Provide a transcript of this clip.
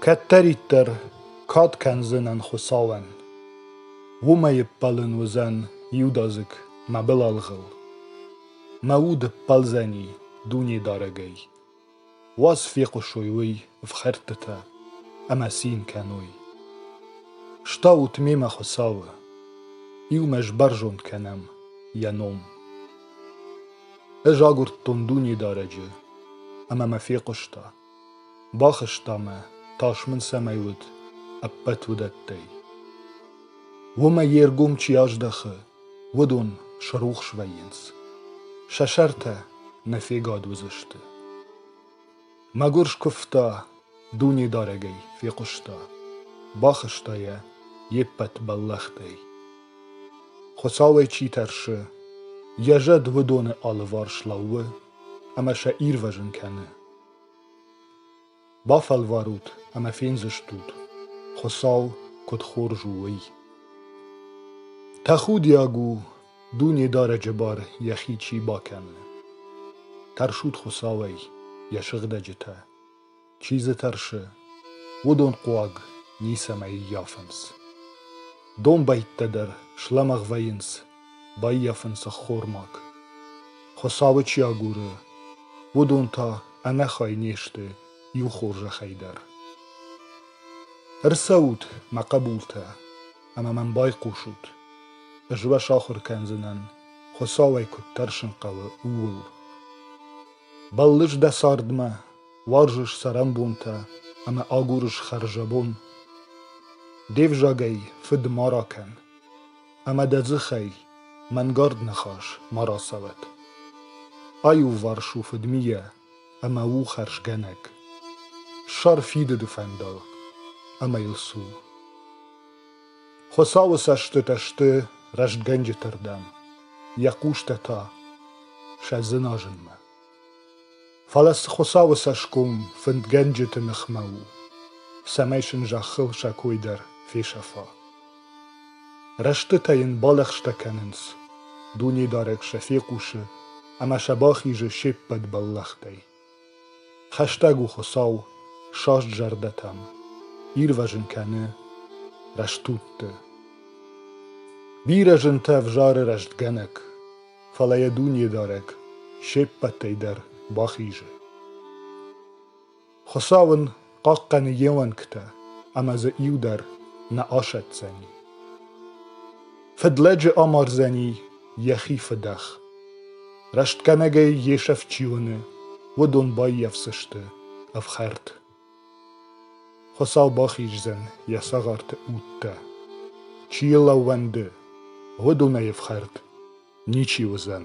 Кӕддӕриддӕр кад кӕндзынӕн Хуыцауӕн, уымӕй ӕппӕлын уыдзӕн иудадзыг мӕ былалгъыл, мӕ уд ӕппӕлдзӕни Дунедарӕгӕй, уаз фехъусой уый ӕфхӕрдтытӕ ӕмӕ цин кӕной. Стаут мемӕ Хуыцауы, иумӕ сбӕрзонд кӕнӕм Йӕ ном. Ӕз агуырдтон Дунедарӕджы, ӕмӕ мӕ фехъуыста. Бахызта мӕ, тас мын цӕмӕй уыд, ӕппӕт уыдӕттӕй. Уымӕ йе ргом чи аздӕхы, уыдон срухс вӕййынц. Сӕ сӕртӕ нӕ фегад уыдзысты. Мӕгуыр скуывта, Дунедарӕгӕй фехъуыста, Бахызта йӕ йе ппӕт бӕллӕхтӕй. Хуыцауӕй чи тӕрсы, Йӕ зӕд уыдоны алыварс лӕууы Ӕмӕ сӕ ирвӕзын кӕны. Бафӕлварут ӕмӕ фендзыстут, Хуыцау куыд хорз у, уый. Тӕхудиаг у Дунедарӕджы бар йӕхи чи бакӕны. Тӕрсут Хуыцауӕй, йӕ сыгъдӕджытӕ. Чи дзы тӕрсы, уыдон хъуаг ницӕмӕй ӕййафынц. Домбӕйттӕ дӕр слӕмӕгъ вӕййынц, баййафынц ӕххормаг. Хуыцауы чи агуры, уыдон та ӕнӕхай не сты иу хорзӕхӕй дӕр. Ӕрцӕут, мӕ хъӕбултӕ, ӕмӕ мӕм байхъусут. Ӕз уӕ сахуыр кӕндзынӕн, Хуыцау ӕй куыд тӕрсын хъӕуы, ууыл. Бӕллыс дӕ цардмӕ, уарзыс цӕрӕнбонтӕ ӕмӕ агурыс хӕрзӕбон. Де взагӕй фыд ма ракӕн, ӕмӕ дӕ дзыхӕй мӕнгард ныхас ма рацӕуӕд. Аиуварс у фыдмийӕ, ӕмӕ у хӕрзгӕнӕг. Ссар фидыды фӕндаг ӕмӕ йыл цу. Хуыцауы цӕстытӕ сты рӕстгӕнджыты рдӕм, йӕ хъустӕ та сӕ дзыназынмӕ. Фӕлӕ цы Хуыцауы цӕсгом фындгӕнджыты ныхмӕ у, цӕмӕй сын зӕххыл сӕ кой дӕр фесӕфа. Рӕстытӕ йын балӕгъстӕ кӕнынц, Дунедарӕг сӕ фехъусы ӕмӕ сӕ бахизы се ппӕт бӕллӕхтӕй. Хӕстӕг у Хуыцау саст зӕрдӕтӕм, ирвӕзын кӕны рӕстудты. Бирӕ зынтӕ ӕвзары рӕстгӕнӕг, фӕлӕ йӕ Дунедарӕг се ппӕтӕй дӕр бахизы. Хуыцау ын хъахъхъӕны йе уӕнгтӕ ӕмӕ дзы иу дӕр нӕ асӕтдзӕни. Фыдлӕджы амардзӕни йӕхи фыдӕх. Рӕстгӕнӕгӕй йе сӕф чи уыны, уыдон баййафдзысты ӕфхӕрд. Хуыцау бахиздзӕн йӕ цагъарты удтӕ. Чи йыл ӕууӕнды, уыдонӕй ӕфхӕрд ничи уыдзӕн.